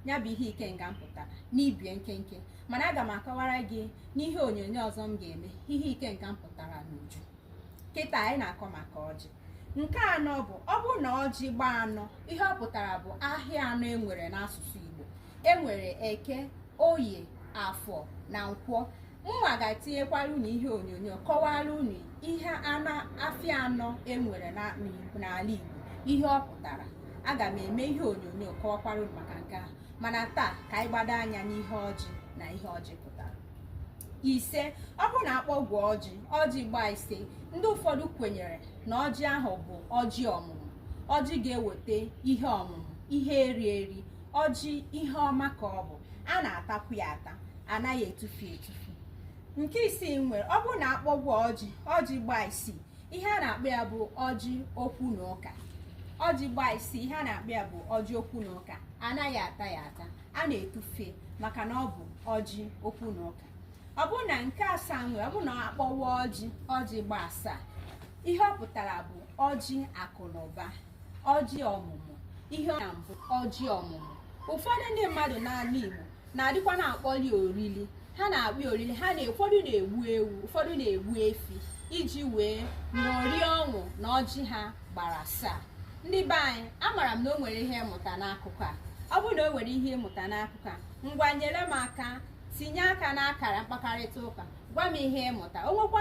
ya bụ ihe ikenga pụtara n'ibie nkenke mana aga m akọwara gị n'ihe onyonyo ọzọ m ga-eme ihe ikenga pụtara n'uju kịta anyị na-akọ maka ọjị nke anọ bụ ọ bụrụ na ọjị gbaa anọ ihe ọ pụtara bụ ahịa anọ enwere n'asụsụ Igbo enwere eke oye afọ na nkwọ mụnwa ga-etinyekwara unu ihe onyonyo kọwara unu ihe anọ afịa anọ enwere n'ala Igbo ihe ọ pụtara aga m eme ihe onyonyo kọwakwara unu maka nke ahụ mana taa ka anyị gbado anya n'ihe ọjị na ihe ọjị pụtara ise ọ bụrụ na akpọwa ọjị ọjị gbaa ise ndị ụfọdụ kwenyere na ọjị ahụ bụ ọjị ọmụmụ ọjị ga-eweta ihe ọmụmụ ihe eri eri ọjị ihe ọma ka ọ bụ a na-atakwu ya ata anaghị etufu etufu nke isii nwere ọ bụrụ na akpọwa ọjị ọjị gbaa isii ihe a na-akpọ ya bụ ọjị okwu na ụka ọjị gbaa isii ihe a na-akpọ ya bụ ọjị okwu na ụka anaghị ata ya ata a na-etufe maka na ọ bụ ọjị okwu na ụka ọ bụrụ na nke asaa nwere ọ bụrụ na akpọwa ọjị ọjị gbaa asaa ihe ọ pụtara bụ ọjị akụ na ụba ọjị ọmụmụ ihe ọ bụ ọjị ọmụmụ ụfọdụ ndị mmadụ n'ala Igbo na-adịkwa na-akpọli orili ha na-akpọ orili ha na ụfọdụ na-egbu ewu ụfọdụ na-egbu efi iji wee ṅụrie ọṅụ na ọjị ha gbara asaa ndị be anyị amara m na o nwere ihe ị mụta n'akụkọ a ọ bụrụ na o nwere ihe ị mụta n'akụkọ a ngwa nyere m aka tinye aka n'akara mkpakarịta ụka gwa m ihe ị mụta o nwekwa